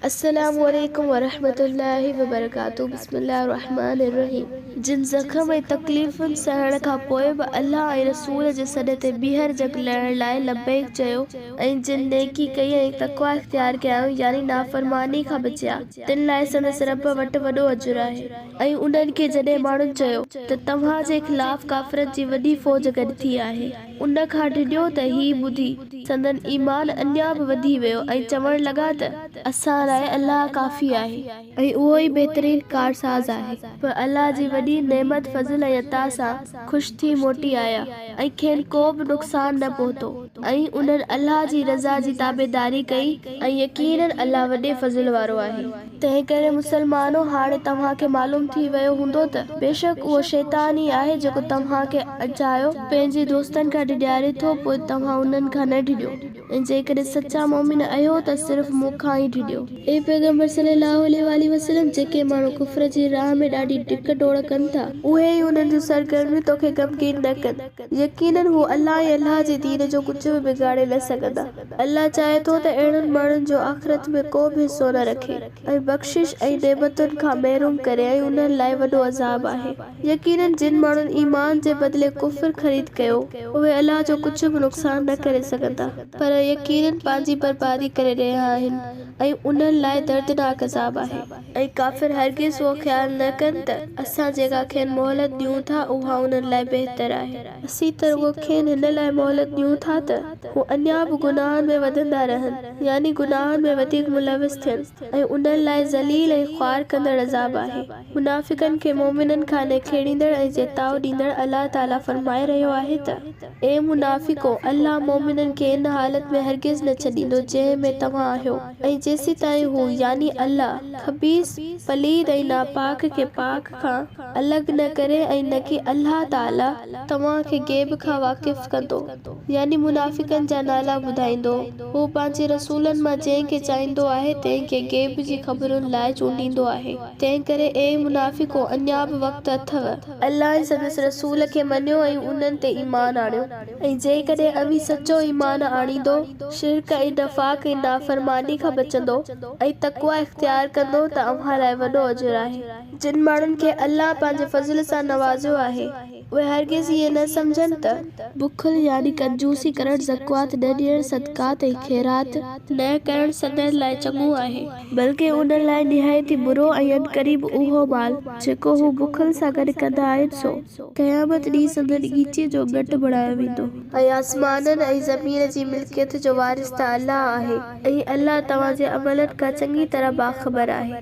السلام عليڪم ورحمة الله وبرڪاته بسم الله الرحمٰن الرحيم جن زخم ۽ تڪليفن سهڻ کان پوء به الله ۽ رسول جي سڏ تي ٻيهر جڳ لهڻ لاء لبيڪ چيو ۽ جن نيڪي ڪئي ۽ تقويٰ اختيار ڪيائون يعني نافرماني کان بچيا تن لاء سندس رب وٽ وڏو اجر آهي. ۽ انهن کي جڏهن ماڻهن چيو ته توهان جي خلاف ڪافرن جي وڏي فوج گڏ ٿي آهي. ان کان ڊڄو ته هي ٻڌي، سندن ايمان اڃا به وڌي ويو ۽ چوڻ لڳا ته، اسان لاء الله ڪافي آهي. ۽ اهو ئي بهترين ڪارساز آهي. پوء الله جي وڏي نعمت، فضل ۽ عطا سان خوش ٿي موٽي آيا ۽ کين ڪو به نقصان نه پهتو ۽ انهن الله جي رضا جي تابعداري ڪئي ۽ يقيناً الله وڏي فضل وارو آهي. تنهنڪري مسلمانو! هاڻي توهان کي معلوم ٿي ويو هوندو ته بيشڪ اهو شيطان ئي آهي جيڪو توهان کي اجايو پنهنجي دوستن کان ڊيڄاري ٿو پوء توهان انهن کان نه ڊڄو ۽ جيڪڏهن سچا مؤمن اهيو ته صرف مون کان ئي ڊڄو. اي پيغمبر صلّي اللّٰه عليه واٰله وسلّم! جيڪي ماڻهو ڪفر جي راهه ۾ ڏاڍي ڊڪ ڊوڙ ڪن ٿا. اهي ئي انهن جون سرگرميون توکي غمگين نه ڪن. يقيناً هو الله ۽ الله جي دين جو ڪجهه به بگاڙي نه سگهندا. الله چاهي ٿو ته اهڙن ماڻهن جو آخرت ۾ ڪو به حصو نه رکي ۽ بخشش ۽ نعمتن کان محروم ڪري ۽ انهن لاء وڏو عذاب آهي. يقيناً جن ماڻهن ايمان جي بدلي ڪفر خريد ڪيو، اهي الله جو ڪجهه به نقصان نه ڪري سگهندا، پر يقيناً پنهنجي بربادي ڪري رهيا آهن ۽ انهن لاء دردناڪ عذاب آهي. ۽ ڪافر هرگز اهو خيال نه ڪن ته اسان جيڪا کين مهلت ڏيون ٿا اها انهن لاء بهتر آهي. اسين ته رڳو کين هن لاء مهلت ڏيون ٿا ته هو اڃا به گناهن ۾ وڌندا رهن، يعني گناهن ۾ وڌيڪ ملوث ٿين، ۽ انهن لاء ذليل ۽ خوار ڪندڙ عذاب آهي. منافقن کي مؤمنن کان نکيڙيندڙ ۽ جيتاء ڏيندڙ الله تعاليٰ فرمائي رهيو آهي ته، اي منافقو! الله مؤمنن کي ان حالت ۾ هرگز نه ڇڏيندو جنهن ۾ توهان آهيو. ۽ جيسيتائين هو، يعني الله، خبيث، پليد ۽ ناپاڪ، کي پاڪ کان الڳ نه ڪري ۽ نڪي الله تعاليٰ توهان کي غيب کان واقف ڪندو، يعني منافقن جا نالا ٻڌائيندو، هو پنهنجي رسولن مان جنهن کي چاهيندو آهي تنهن کي غيب جي خبرن لاء چونڊيندو آهي، تنهنڪري اي منافقو اڃا به وقت اٿو. الله ۽ سندس رسول کي مڃيو ۽ انهن تي ايمان آڻيو. ۽ جيڪڏهن اوهين سچو ايمان آڻيندو، شرڪ ۽ نفاق ۽ نافرماني کان بچندو ۽ تقويٰ اختيار ڪندو ته اوهان لاء وڏو اجر آهي. جن ماڻهن کي الله پنهنجي فضل سان نوازيو آهي، اهي هرگز ائين نه سمجهن ته. بخل يعني ڪنجوسي ڪرڻ، زڪوات نه ڏيڻ، صدقات ۽ خيرات. نه ڪرڻ سندن لاء چڱو آهي. بلڪ انهن لاء نهايت ئي برو ۽ عنقريب اهو مال، جيڪو هو بخل سان گڏ ڪندا آهن، سو. سو قيامت ڏينهن سندن ڳچيء جو ڳٽ بڻايو ويندو. ۽ آسمانن ۽ زمين جي ملڪيت جو وارث ته الله آهي. ۽ الله توهان جي عملن کان چڱي طرح باخبر آهي.